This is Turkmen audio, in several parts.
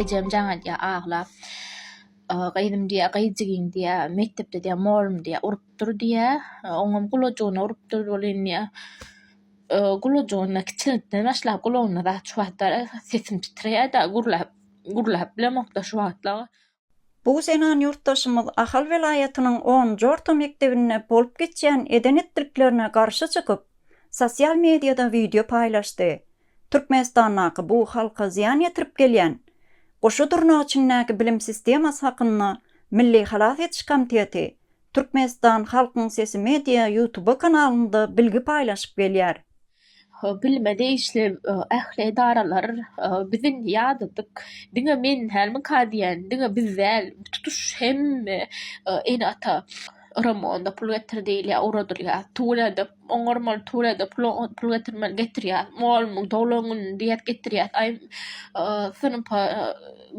Ejem jaň edýär, aglap. Gyzym diýýär, gyzjigim diýýär, mekdepde diýýär, mugallym diýýär, urupdyr diýýär. Oňam gulajygyna urupdyr welin diýýär. Gulajygyna kiçilikden başlap gulagyna zat çuwatdar, sesim titreýär-de, gürläp, gürläp bilemok-da şu wagtlar. Bu zenan ýurtdaşymyz Ahal welaýatynyň onunjy orta mekdebinde bolup geçýän eden-etdiliklerine garşy çykyp, sosial mediada wideo paýlaşdy. Türkmenistandaky bu halka zyýan ýetirip gelýän goşa durnak içindäki bilim sistemasy hakynda Milli halas ediş komiteti, Türkmenistan halkyň sesi media ýutuba kanalynda bilgi paýlaşyp gelýär. Bilmedi işli ähli edaralar bizin ýadadyk diňe men dälmikä diýen diňe biz däl tutuş hemme ene ata Ramonda pul getir diýilýär ugradylýar Tulada oňarmaly Tulada pul getirmeli getirýär molmyň doglan gününde diýýär getirýär aý synpa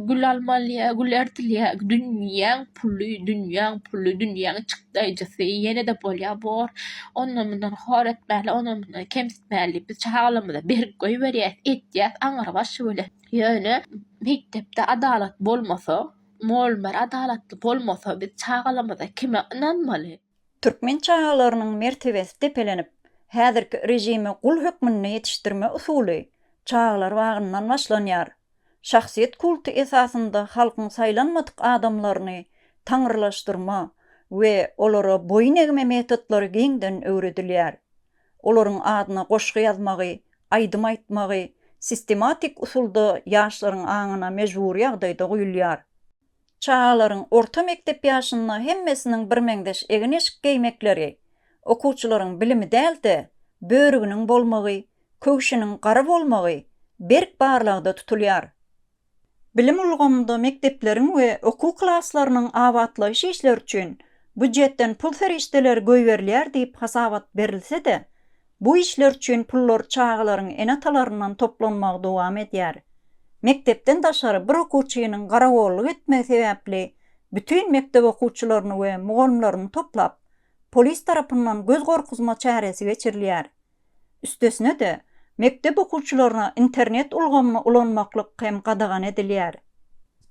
Gül almalýa, gül ertilýä, dünýäň puly, dünýäň puly, dünýäň çykdaýjysy, ýene-de bolýa bor. Ondan-mundan hor etmäli, ondan-mundan kemsitmäli. Biz çagalymyza berk goýberýäs, etýäs aňrybaşy bile. Ýöne mekdepde adalat bolmasa, mol-mer adalatly bolmasa biz çagalarymyza kime ynanmaly? Türkmen çagalarynyň mertebesi depelenip, häzirki režime gul hökmünde ýetişdirme usuly çagalar bagyndan başlanýar. Şahsyýet kulty esasynda halkyň saýlanmadyk adamlaryny taňrylaşdyrma we olara boýun egme metodlary giňden öwredilýär. Olaryň adyna goşgy ýazmagy, aýdym aýtmagy sistematik usulda ýaşlaryň aňyna mejbury ýagdaýda guýulýar. Çagalaryň orta mekdep ýaşynda hemmesiniň birmeňzeş egin-eşik geýmekleri, okuwçylaryň bilimi däl-de, börüginiň bolmagy, köwşüniň gara bolmagy berk barlagda tutulýar. Bilim ulgamynda mekdepleriň we okuw klaslarynyň abatlaýyş işleri üçin býujetden pul serişdeleri goýberilýär diýip hasabat berilse-de, Bu işler üçin pullar çagalaryň ene-atalaryndan toplanmagy dowam edýär. Mekdepden daşary bir okuwçynyň garagolluk etmegi sebäpli bütin mekdep okuwçylaryny we mugallymlaryny toplap, polis tarapyndan göz gorkuzma çäresi geçirilýär. Üstesine-de, mekdep okuwçylaryna internet ulgamyny ulanmaklyk hem gadagan edilýär.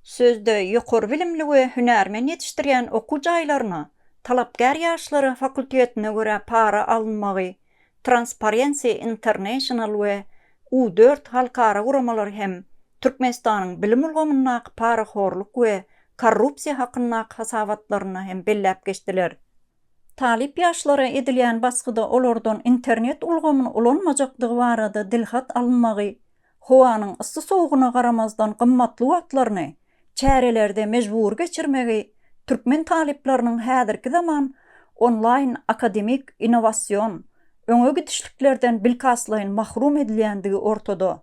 Sözde ýokary bilimli we hünärmen ýetişdirýän okuw jaýlaryna talapkär ýaşlara fakultetine görä para alynmagy Transparency International we U dört halkara guramalary hem Türkmenistanyň bilim ulgamyndaky parahorluk we korrupsiýa hakyndaky hasabatlarynda hem belläp geçdiler. Talyp ýaşlara edilýän basgyda olardan internet ulgamyny ulanmajakdygy barada dilhat alynmagy howanyň yssy-sowugyna garamazdan gymmatly wagtlaryny çärelerde mejbury geçirmegi türkmen talyplarynyň häzirki zaman onlaýn akademik innowasion öňe gidişliklerden bilkastlaýyn mahrum edilýändigi ortada.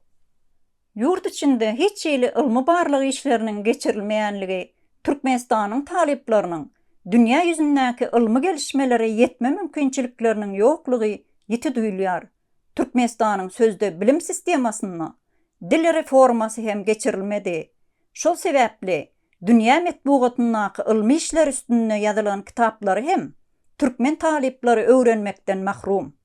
Ýurt içinde hiç hili ylmy-barlag işleriniň geçirilmeýänligi Türkmenistanyň talyplarynyň dünýä ýüzündäki ylmy gelişmelere ýetme mümkinçilikleriniň ýoklugy ýiti duýulýar. Türkmenistanyň sözde bilim sistemasynda dil reformasy hem geçirilmedi. Şol sebäpli dünýä metbugatyndaky ylmy işler üstünde ýazylan kitaplary hem türkmen talyplary öwrenmekden mahrum.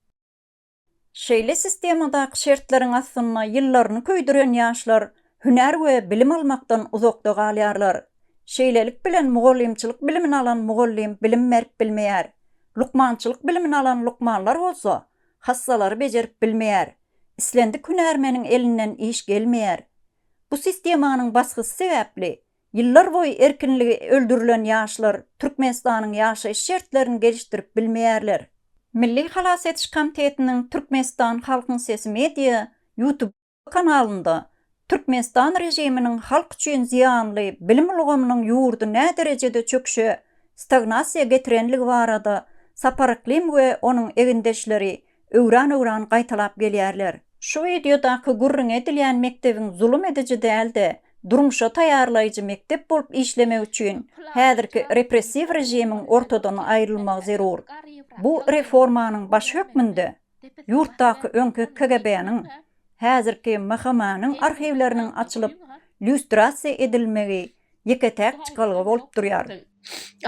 Şeýle sistemadaky şertleriň astynda ýyllaryny köýdüren ýaşlar hünär we bilim almakdan uzakda galýarlar. Şeýlelik bilen mugallymçylyk bilimini alan mugallym bilim berip bilmeýär. Lukmançylyk bilimini alan lukmanlar bolsa hassalary bejerip bilmeýär, islendik hünärmeniň elinden iş gelmeýär. Bu sistemanyň basgysy sebäpli, ýyllar boýy erkinligi öldürilen ýaşlar Türkmenistanyň ýaşaýyş şertlerini gelişdirip bilmeýärler. Milli halas ediş komitetiniň Türkmenistan halkyň sesi media YouTube. kanalynda Türkmenistan režiminiň halk üçin zyýanly bilim ulgamynyň ýurdy näderejede çöküşe, stagnasiýa getirenligi barada Saparyklim we onuň egindeşleri öwran-öwran gaýtalap gelýärler. Şu wideodaky gürrüňi edilýän mekdebiň zulum ediji däl-de, durmuşa taýýarlaýjy mekdep bolup işlemegi üçin häzirki repressiw režimiň ortadan aýrylmagy zerur. Bu reformanyň baş hökmünde, Ýurtdaky öňki KGB-niň, häzirki MHM-niň arhiwleriniň açylyp, lýustrasiýa edilmegi ýeke-täk çykalga bolup durýar.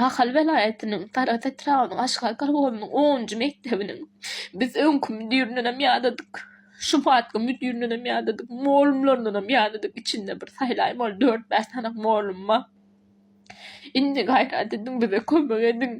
Ahal welaýatynyň Sarahs etrabynyň Aşgar kolhozynyň onunjy mekdebiniň biz öňki müdirindenem ýadadyk, şu wagtky müdirindenem ýadadyk, mugallymlaryndanam ýadadyk içinde bir saýlaýyn bol, dört-bäş sanak mugallym bar. Indi gaýrat ediň, bize kömek ediň!